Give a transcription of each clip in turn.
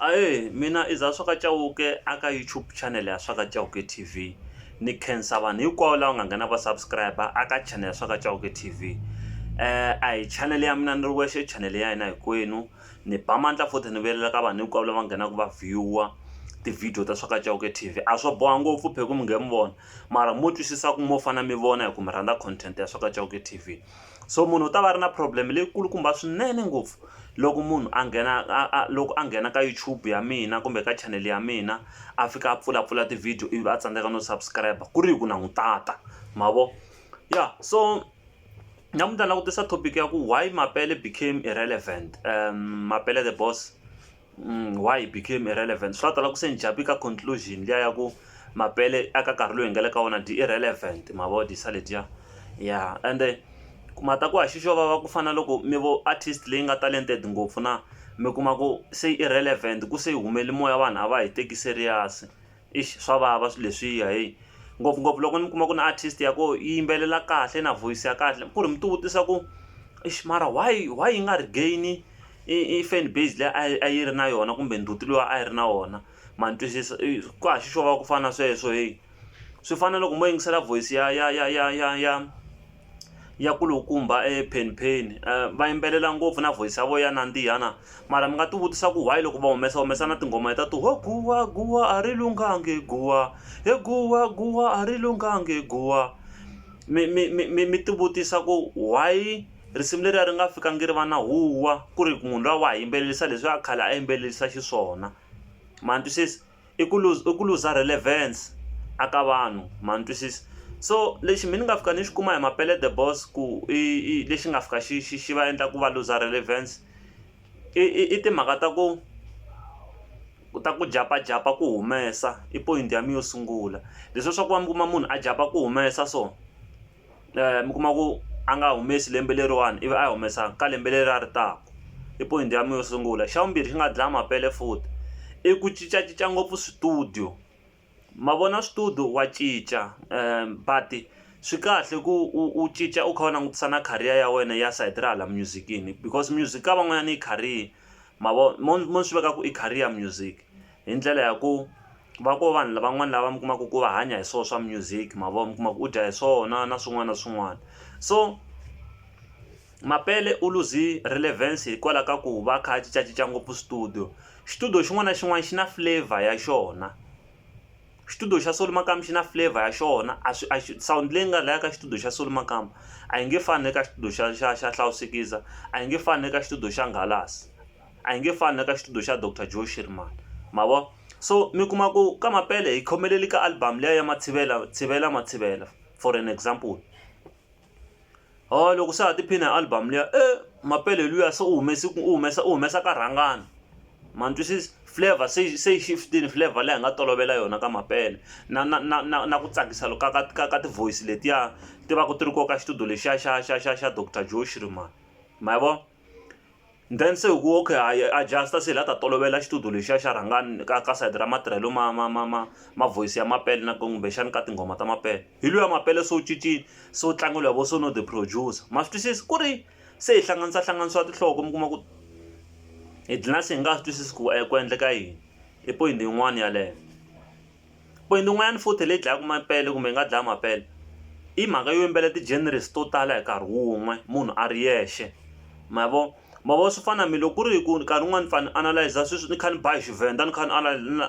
Ahee mina i Zaswaka Chauke a ka YouTube channel ya Swaka Chauke T_V ni khensa vanhu hinkwavo lava nga nghena va subscriber a ka channel ya Swaka Chauke T_V a hi channel ya mina ni ri wexe i channel ya hina hinkwenu ni ba mandla futhi ni vuyelela ka vanhu hinkwavo lava nghenaka va view-a ti-video ta Swaka Chauke T_V a swo boha ngopfu phela ku mi nghe mi vona mara mo twisisa ku mo fana mi vona hi ku mi rhandza content ya Swaka Chauke T_V. So munhu u ta va a ri na problem leyi kulukumba swinene ngopfu loko munhu a nghena a a loko a nghena ka YouTube ya mina kumbe ka channel ya mina a fika a pfulapfula ti-video ivi a tsandzeka no subscribe ku ri hi ku na n'wi tata ma vo ya so namuntlha ni lava ku tisa topic ya ku why Mapele became irrelevant mapele the boss. why it became irrelevant swa tala ku se ni jump ka conclusion liya ya ku mapele aka nkarhi loyi hi nga le ka wona di irrelevant ma vo di sa letiya ya ende ku ma ta ku a xi xo vava ku fana na loko mi vo artist leyi nga talented ngopfu na mi kuma ku se irrelevant ku se yi humele moya vanhu a va hi teki serious. eish swa vava swilo leswiya heyi ngopfungopfu loko ni kuma ku na artist ya koho yi yimbelela kahle na voice ya kahle ku ri mi ti vutisa ku eish mara why why yi nga regain i fan base leyi a yi a yi ri na yona kumbe ndzhuti lowu a yi ri na wona ma ni twisisa i ku hava xi xova ku fana na sweswo heyi swi fana na loko mo yingisela voice ya ya ya ya ya ya. ya kulukumba e Penn Penn va yimbelela ngopfu na voice ya vona ya nandziha na mara mi nga ti vutisa ku why loko va humesa humesa na tinghoma letiya to ho guwa guwa a ri lunghangi guwa he guwa guwa a ri lunghangi guwa mi mi mi mi mi ti vutisa ku why risimu leriya ri nga fikangi ri va na huwa ku ri munhu luya wa ha yimbelelisa leswiya khale a yimbelelisa xiswona ma ni twisisa. i ku i ku luza relevance a ka vanhu ma ni twisisa so lexi mehe ni nga fika ni xi kuma hi mapele the boss ku i i lexi nga fika xi xi xi va endla ku va luza relevance i i i timhaka ta ku ku ta ku japajapa ku humesa i point ya mina yo sungula leswiya swa ku va mi kuma munhu a jump-a ku humesa so. mi kuma ku a nga humesi lembe leriwani ivi a yi humesa ka lembe leri a ri taka i point ya mina yo sungula xa vumbirhi xi nga dlaya mapele futhi i ku cincacinca ngopfu switudio ma vona switudio wa cinca but swi kahle ku u cinca u kha u langutisa na career ya wena ya sayiti ra hala music-ini because music ka van'wanyana yi career ma vo mo swi veka ku i career music hi ndlela ya ku. va ko vanhu lavan'wana lava mi kumaka ku va hanya hi swo swa music ma vo mi kuma ku u dya hi swona na swin'wana na swin'wana so mapele u lose relevance hikwalaho ka ku va kha a cincacinca ngopfu studio xitudiyo xin'wana na xin'wana xi na flavor ya xona xitudiyo xa solo makamu xi na flavor ya xona a swi a xi sawundi leyi nga laya ka xitudiyo xa solo makamu a yi nge fani na le ka xitudiyo xa xa xa hlawusikiza a yi nge fani na le ka xitudiyo xa nghalasi. A hi nge fani na ka xitudiyo xa Doctor Joe Shearman. Ma vo? So mi kuma ku ka Mapele hi khomelele ka album liya ya Matshivela Tshivela Matshivela for an example. Ho loko se ha tiphina hi album liya e Mapele luya se u humese u humesa u humesa ka rhangana. Ma ni twisisa? Flavour se yi se yi shift-ini flavour leyi hi nga tolovela yona ka Mapele, na na na na na ku tsakisa loku ka ka ka ka ti-voice letiya ti va ku ti ri kona ka xitudiyo lexiya xa xa xa xa Doctor Joe Shearman. Ma yi vona? then se hi ku okay ha yi adjust se hi la ta tolovela xitudio lexiya xa rhangani ka ka side ra matirhelo ma ma ma ma ma voice ya mapele na ku kumbexana ka tinghoma ta mapele hi luya mapele se wu cincile se wu tlangiwa vo Sono the producer ma swi twisisa ku ri se hi hlanganisa hlanganisiwa tinhloko mi kuma ku hi dlina se hi nga swi twisisi ku ku endleka yini i point yin'wani yeleyo. Point yin'wanyana futhi leyi dlayaka mapele kumbe yi nga dlaya mapele i mhaka yo yimbelela ti-genres to tala hi nkarhi wun'we munhu a ri yexe ma vo ma vo swi fana na loko ku ri ku nkarhi wun'wani ni fane ni analyser sweswi ni kha ni ba hi Tshivenda ni kha ni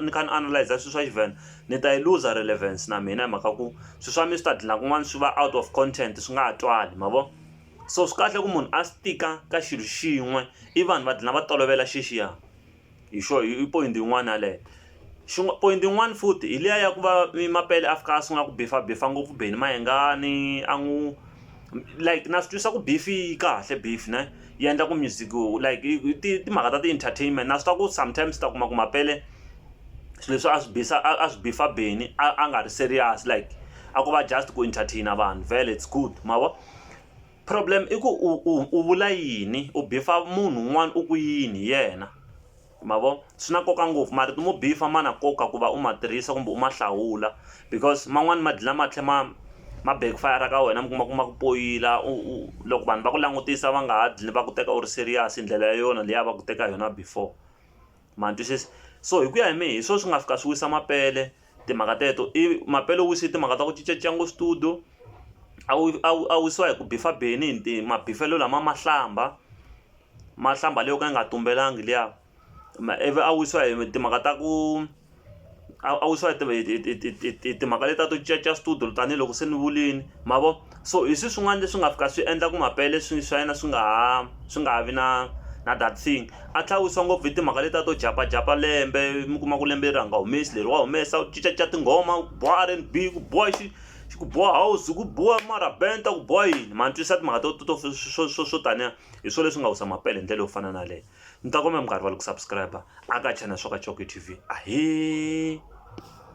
ni kha ni analyser swilo swa Tshivenda ni ta yi looser relevance na mina hi mhaka ku swilo swa mina swi ta gcina kun'wana swi va out of content swi nga ha twali ma vo so swi kahle ku munhu a swi tika ka xilo xin'we i vanhu va gcina va tolovela xexiya. hi xo hi point yin'wana yaleyo xin'wana point yin'wana futhi hi liya ya ku va mapele a fika a sungula ku bifa bifa ngopfu beni mayengani a n'wi like na swi twisa ku beef yi kahle beef ne yi endla ku music like timhaka ta ti-entertainment na swi tiva ku sometimes ta kuma ku mapele swilo leswi a swi bisa a swi bifa beni a nga ri serious like a ko va just ku entertain vanhu vhele it's good ma vo. Problem i ku u u u vula yini u bifa munhu un'wana u ku yini hi yena ma vo swi na nkoka ngopfu marito mo bifa ma na nkoka ku va u ma tirhisa kumbe u ma hlawula because man'wani ma dlina ma tlhe ma ma back fire ka wena mi kuma ku ma ku poyila u u loko vanhu va ku langutisa va nga ha dlini va ku teka u ri serious hi ndlela ya yona leyi a va ku teka hi yona before. ma ni twisisa so hi ku ya hi mehe hi swona swi nga fika swi wisa mapele timhaka teto i mapele u wise timhaka ta ku cincacinca ngopfu studio a wu a wu a wu wisiwa hi ku bifa beni nti mabifelo lama mahlamba mahlamba leyi yo ka yi nga tumbelangi liya ivi a wisiwa hi timhaka ta ku. a a wu swi va hi hi hi hi hi timhaka leti ta to cincacinca switudio tanihiloko se ni vulini ma vo so hi swi swin'wana leswi nga fika swi endla ku mapele swi swa yena swi nga ha swi nga ha vi na na that thing a tlhela a wisa ngopfu hi timhaka leti ta to jampajampa lembe mi kuma ku lembe leri a nga humesi leri wa humesa u cincacinca tinghoma ku biwa R_N_B ku biwa xi xi ku biwa house ku biwa marabenda ku biwa yini ma ni twisisa timhaka to to to swo swo swo taniya hi swona leswi nga wisa mapele hi ndlela yo fana na yaleyo. Ni ta kombela mi nga rivali ku subscribe-a aka channel Swaka Coke TV. Ahee!